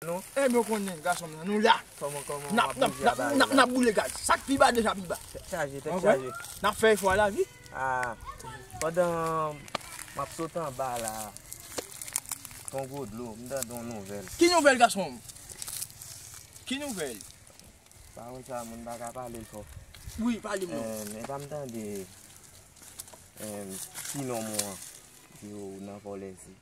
non. Enh mwen konnen gason m nan nou la nap boule gaz sak pi ba deja pi ba tèt chaje tèt chaje nap fè efò la wi aah pandan map sot anba la ton gwo dlo m tande yon nouvèl ki nouvèl gason m ki nouvèl pawòl sa moun pa ka pale l fò wi pale m non enh epa m tande enh ti nonm ou an di ou nan vòlè si.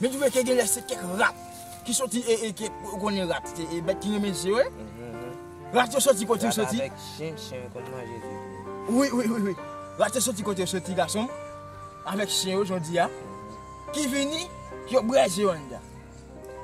Men twouve ke genlè se kèk rat ki soti e e kèk ou konnen rat se e bèt ki renmen je wi. Rat yo soti kote yo soti. Rat avèk chen, chen yo konn manje je tou. Wi, wi, wi, wi. Rat yo soti kote yo soti gason m. Avèk chen yo jan w di a. Ki vini, yo brè je yo anndan.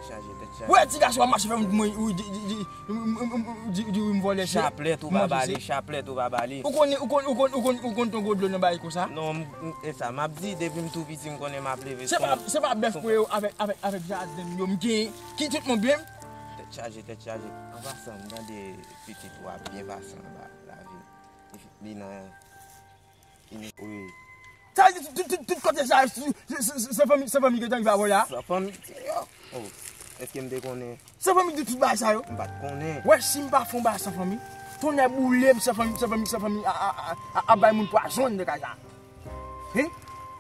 Chaje tèt chaje. Wè ti gason ap mache fè yon ti mwen wi di, di, di, di. Ou di wi m vòlè vye. Chaplèt ou pa ba li, chaplèt ou pa ba li. Ou konn, ou konn, ou konn, ou konn, ou konn ton gwo dlo nan bayi konsa? Non m, e sa m ap di, depi m tou piti m konnen m ap leve son. Se pa, se pa bèf mwen yo avèk, avèk, avèk jaden m yo m gen ki tout moun byen m? Tèt chaje, tèt chaje. An pasan, m tande pitit ou a byen pase anba lavi li nan. Wi. Sa vle di tout kote sa se fanmi se fanmi gentan ki ba volè a? Se fanmi se yo. Oh. Eskem te konnen. Se fanmi ki te tout bagay sa yo? M pat konnen. Wè sim pa fon bagay se fanmi. Tonnè boulem se fanmi se fanmi se fanmi a a a ap bay moun pwazon nan kay sa. Hein?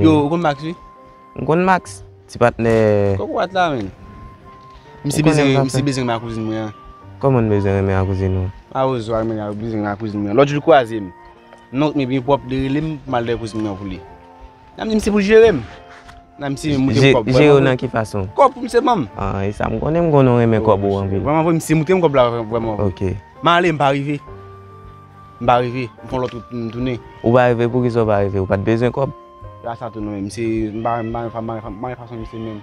Yo, ou konn Max wi? M konn Max, ti patnè. Kòk wòt la menm. M si bezwen renmen ak kouzin mwen an. Kòman m bezwen renmen ak kouzin ou? A ou zo a renmen ak kouzin mwen an. Lòt jou li kwaze m. Nonk li byen pwòp, li rele m pou m al dèyè kouzin mwen an pou li. Nan m di m se pou jere m. Nan m si m moute m kòb. Jere w nan ki fason? Kòb pou m se banm. A, e sa m konnen m konnen w renmen kòb ou anpil. Vwèman vre m si m moute m kòb la vwèman. Ok. M ale m pa rive. M pa reve, m pran lòt wout pou m tounen. Ou pa reve, poukisa ou pa reve? Ou pa t bezwen kòb? Se pa sa tou non menm, se m pa renmen fason misye menm.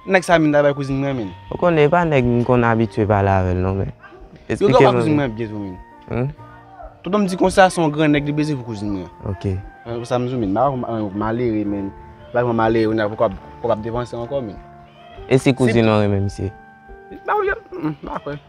Nèg sa menm ta bay kouzin mwen menm. Ou konnen e pa nèg m konn abitye pale avè l non menm. Esplike m. Yo ka bay kouzin mwen byen tou menm. Tonton m di konsa se yon gran nèg li peze pou kouzin mwen. Ok. Mwen konsa m di w menm, m pa vle yon malere menm. M pa vle yon malere kounya pou kòb ap depanse ankò menm. E si kouzin ou renmen misye? M pa kwè.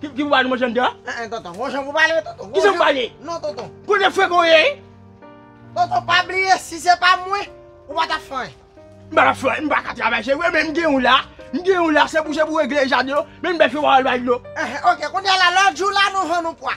Ki pou wale manje mda? An an tonton, gon jan pou pale tonton. Ki jan pou pale? Non tonton. Kou de frek ou ye? Tonton pa bliye si se pa mwen, ou pa ta fè. M pa ta fè, m pa ka travay se vre men m gen ou la. M gen ou la se pou se pou regle jaden yo, men m bèfe wale bay dlo. An an ok, kounye la lòt jou la nou vann ou pwa.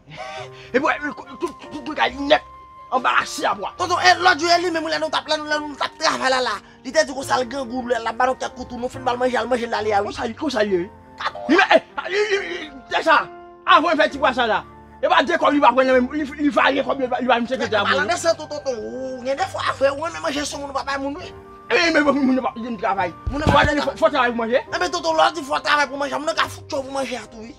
Epi wè tout bagay nèt anba lache a bwa. Tonton e lòt jou e li menm lè nou tap lè nou tap travay la la li te di konsa l grangou l ap ba nou kèk koutou nou fin ba l manje al manje l ale a wi. Konsa l ye wi. Li menm e deja avan l fè ti bwasaj la e pa de kòb li pa pran nan men m li varye kòb yo li ba m sekretè a pou l. Palanse tou tonton ou gen defo a vre ou renmen manje sou moun ou pa bay moun wi. Epi menm moun yo pa janm travay. Moun yo pa janm travay. Fò travay pou manje. Epi tonton lè w di fò travay pou manje a moun yo ka fout cho pou manje a tou wi.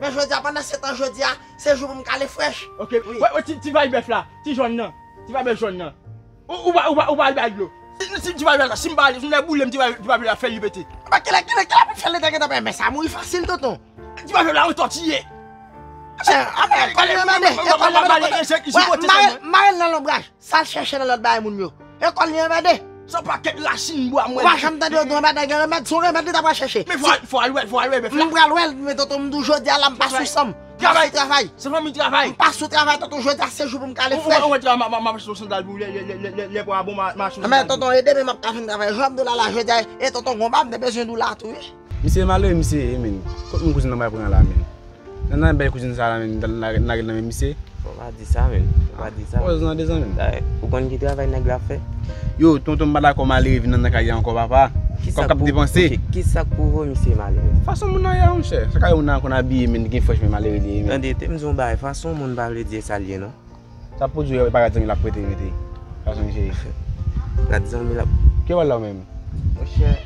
Men jodia pandan setan jodia se jou pou m kale fresh. Ok wè ti vay bèf la ti jòn nan ti vay bèf jòn nan ou pa ou pa al bay dlo si ti vay bèf la sim pa ale si m ta boulem ti vay bèf la fèl li pete. Epa kilè kilè kilè pou fèl li ta gentan pete men sa mouri fasil tonton. Ti vay bèf la on tòtiye. Apre apre kòl li mande e kòl la mande kote. Mare l nan lonbraj. Sal chèche nan lòt bagay moun yo. Ekòl li anmède. Son paket racine bwa mwen. Ou pa janm tande yo di yon bagay gen remèd, son remèd li ta pral chèche. Men fò al wèl, fò al wèl bèf la. M pral wèl, men tonton m di w jodi a la m pa sou san m. Travay, travay. Se fanmi travay. M pa sou travay tonton jodi a se jou pou m kale frèch. Ou wè travay map mache sou sandal pou lè pou a bon map mache sou sandal. Men tonton ede m e map ka fin travay. Jan m di w la la jodi a e tonton gonba m te bezwen di w la tou wi. Misye malere misye ye menn. Kot moun kouzin nan pral pran la menn. Nan nan bèy kouzin sa la menn nan lage nan men misye. Fò pa di sa menn. Fò pa di sa. Pòz nan de zanmi. Daye ou konn ki travay nèg la fè? Yo tonton m pa dakò malere vin nan nan kay la ankò papa. Kòb kap depanse. Ok kisak pou vo misye malere? Fason moun nan ye a monchè. Sa ka wè moun nan konn abiye menn li gen fòch menn malere li ye menn. Tande tem di yon bagay fason moun pa vle di esal ye non. Sa pou di yo e pa rad zanmi lap prete mete. Fason misye ye. Rad zanmi lap. Ki yo bal la ou menm? Monchè.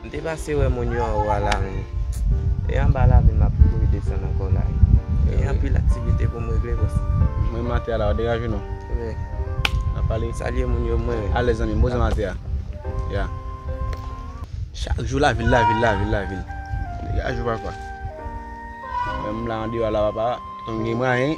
M te pase wè moun yo anwo a la men e anba lavil m ap kouri desann ankò la wi. Gen anpil aktivite pou m regle bòs. M renmen ate a la ou degaje w non. Wi. N ap pale. Salye moun yo mwen. Alèz zanmi m. Bon zanmi ate a. Ya. Chak jou lavil lavil lavil lavil. Degaje w papa. Menm m la andeyò a la papa. Tank gen mwayen.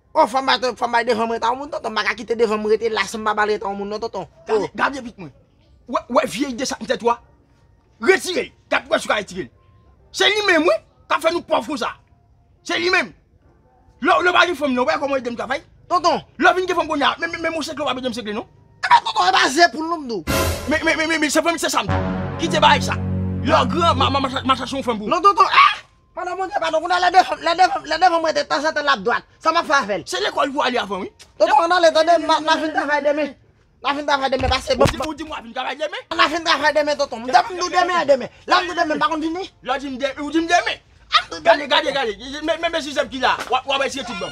Oh fòm bay ton fòm bay devan m rete a yon moun tonton m paka kite devan m rete la san m pa bal rete a yon moun non tonton oh. Gade gade vit mwen wè wè vye ide sa nan tèt ou a retire l gad pou wè si w ka retire l se li menm wi kap fè nou pòv konsa se li menm lè lè w pa gen fanm nan wè kòman w ede m travay tonton lè w vin gen fanm kounye a men menm yon segle w pap ede m segle non. Ebyen tonton e pa ze poul non m di w. Men men men men se vre m se sa m di w kite bagay sa lè w gran ma ma ma chache yon fanm pou ou. Non tonton eh. Madan Bondye padon kounye a lè devan lè devan lè devan mwen te tanzantan lap dwat sa map fè avèl. Se lekòl pou ale avan wi. Tonton ann ale tande m na vin travay demen na vin travay demen pase banm Ou di m wap vin travay demen? Na vin travay demen tonton m depi m di w demen e demen lè m di w demen m pa konn vini Lè w di m demen ou di m demen Gade gade gade men men zizèm ki la wap wap eseye tout banm.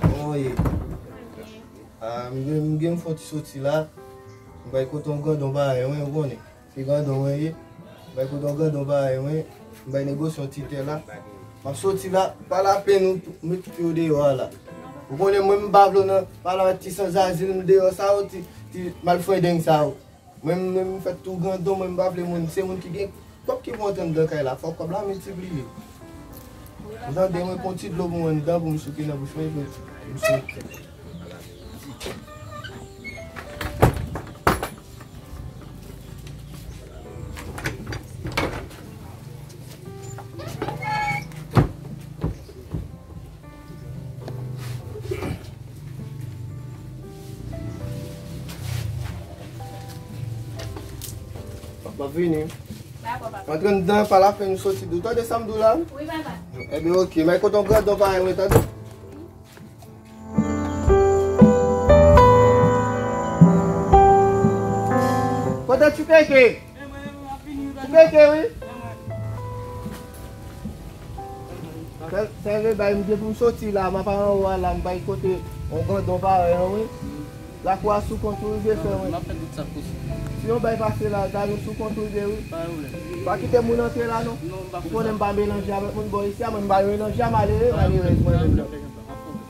Koman ye? M gen m fon ti soti la. M bay kote yon grandon bare mwen, ou konnen. Se grandon mwen ye. M bay kote yon grandon bare mwen. M bay negosye yon ti tè la. M ap soti la, pa lapenn ou met tout yo deyò a la. Ou konnen mwen m pa vle w nan, pa nan ti sanzazil deyò sa yo, ti malfredeng sa yo. Mwen menm m fèt tou grandon mwen m pa vle moun se moun ki gen kòb ki pou antre anndan kay la fòk kòb la miltipliye ou tande mwen pran yon ti dlo pou mwen anndan pou m souke nan bouch mwen epi m soti. Map vini. Dako papa. Antre m dan pa la fen m soti do. Tande sam do la? Wi papa. E bi ok. May koton gran don pa yon tande. Kote ti teke? Ou pete wi. Sève bay m depi m soti la, m ap al anwo a la, m bay kote yon grandon parèy an wi. Lakou a sou kont ou wi vye frè mwen. Si yon bèy pase la, gade ou sou kont ou vye wi. Pa kite moun antre la non. Ou konnen m pa melanje avèk moun bò isi a, mwen m pa melanje a malere, malerèz mwen menm nan.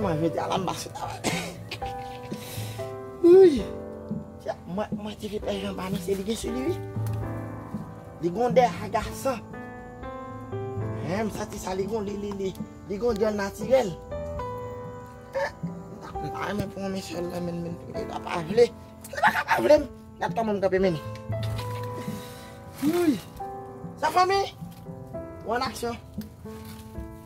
Mwen jodi a la m pa sou travay. Wouyy! Mwen te vle pè Jean pa nan se li gen sou li wi. Li gon dè agasan. Hein m santi sa li gon li li li. Li gon dè natirèl. M ta renmen pou yon mesye al nan men l men li ta pa vle. Li pa ka pa vle m. Gad kòman m kanpe men ni. Wouyy! Sa fanmi? Ou an aksyon?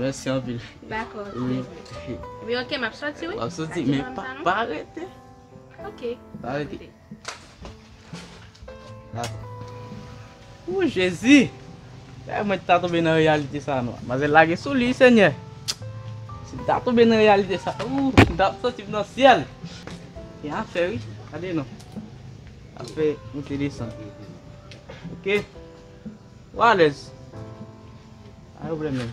Mèsi anpil. Dakò. Wi ok, m ap soti wi. Ou ap soti men pa rete. Ok. Pa rete. Ooh Jezi! Eeh mwen ta toube nan reyalite sa nou. Manzè lage sou li senyè. Si m ta toube nan reyalite sa ooh m ta soti nan syèl. Gen afè wi. Gade non. ap fè monte desann ok ou alèz pa gen problèm menm.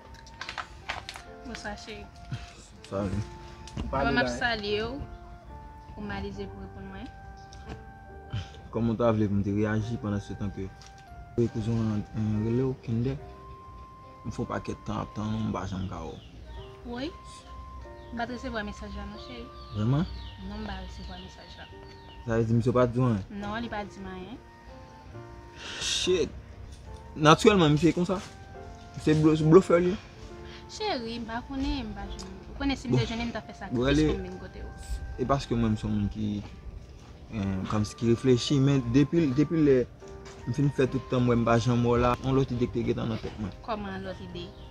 Bonswa cheri. Salut. Mwen map salye ou. Ou malize pou reponn mwen. Koman ta vle pou m te reyaji pandan se tan ke ou e kouzen w an rele w Kinder? M fon pakèt tan ap tann ou m pa janm ka wè w. Woy. M pat resevwa mesaj la non cheri. Vreman? Non m pa resevwa mesaj la. Sa vle di misye pa di w anyen? Non li pa di m anyen. Shit! Naturelman misye konsa? Se blofè li ye? Cheri, m pa konnen, m pa jwenn. Ou konnen si m te jwenn li m ta fè sakrifis pou m vin kote ou. E paske mwen m son moun ki kòmsi ki reflechi men depi lè m fin fè tout tan m wè m pa janm wè w la, yon lòt ide ki te gentan nan tèt mwen. Kòman yon lòt ide?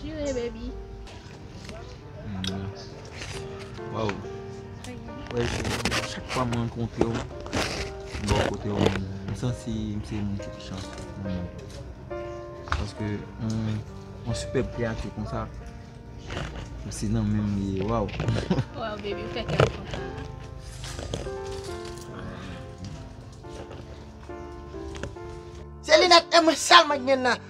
Jire baby. Waw. Wè se mwen chak fwa mwen kontre ou. Mwen kontre ou. Mwen san si mwen se mwen ki chan. Paske mwen super pya ki kon sa. Mwen se nan mwen mwen. Waw. Waw baby mwen fè kèm konta. Se li nèk mwen sèl mwen gen nan.